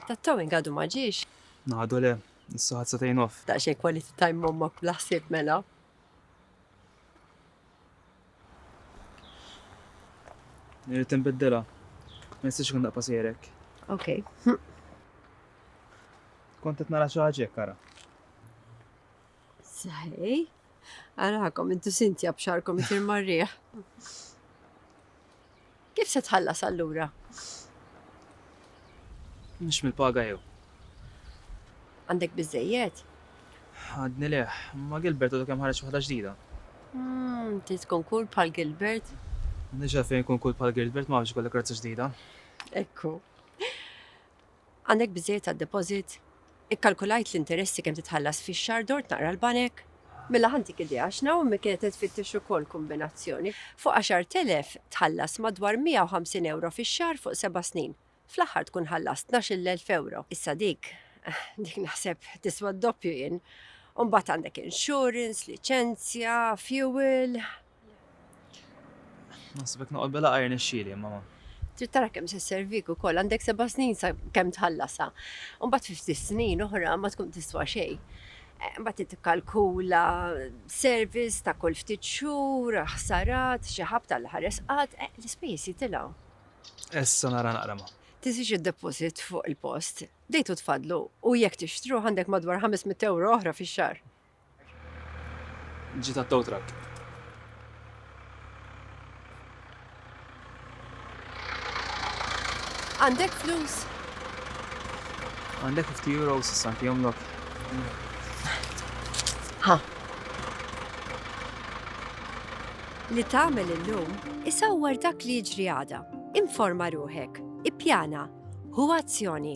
Tat-towing għadu ma ġiex? Għadu le, issa ħadd satejn off. Daqsxejn quality time mommok bla ħsieb mela. Irrid inbiddilha. Ma jistax ikun daqqa sejrek. Ok. Kont qed nara xi ħaġa hekk ara. Saħej. Arakom, intu sintja bxarkom itir marriħ. Kif se tħallas allura? Mux mil-paga jew. Għandek bizzejiet? Għadni leħ, ma Gilbert u kem ħarġ waħda ġdida. Hmm, ti tkun kull pal Gilbert? Nġa fejn kun kull pal Gilbert ma biex kollek razza ġdida. Ekku. Għandek biżżejjed għad-deposit? Ikkalkulajt l-interessi kemm titħallas fix-xahar dort naqra l-banek? Mela ħa ntik idea, għax Naomi kienet qed tfittex ukoll kombinazzjoni. Fuq għaxart elef tħallas madwar 150 ewro fix-xahar fuq seba' snin. Fl-aħħar tkun ħallast tnax-il elf ewro. Issa dik, dik naħseb tiswa d-doppju jien. U mbagħad għandek insurance, liċenzja, fuel. Naħsibek noqgħod bela qajr nexxieli, mama. Trid tara kemm se servik ukoll, għandek seba' snin sa kemm tħallasha. Imbagħad fi ftit snin oħra ma tkun tiswa xejn. Eh, imbagħad trid tikkalkula service ta' kull ftit xhur, ħsarat, xi ħab tal-ħares qatt, eh, l-ispejjeż jitilgħu. Issa nara naqra ma. Tisix id-deposit fuq il-post, dejtu tfadlu u jekk tixtruh għandek madwar 500 euro oħra fix-xahar. Ġiet għat-tow truck. Għandek flus? Għandek 50 euro issa anki jomlok. Ha. Li tagħmel illum isawwar dak li jiġri għada. Informa ruħek, ippjana, hu azzjoni.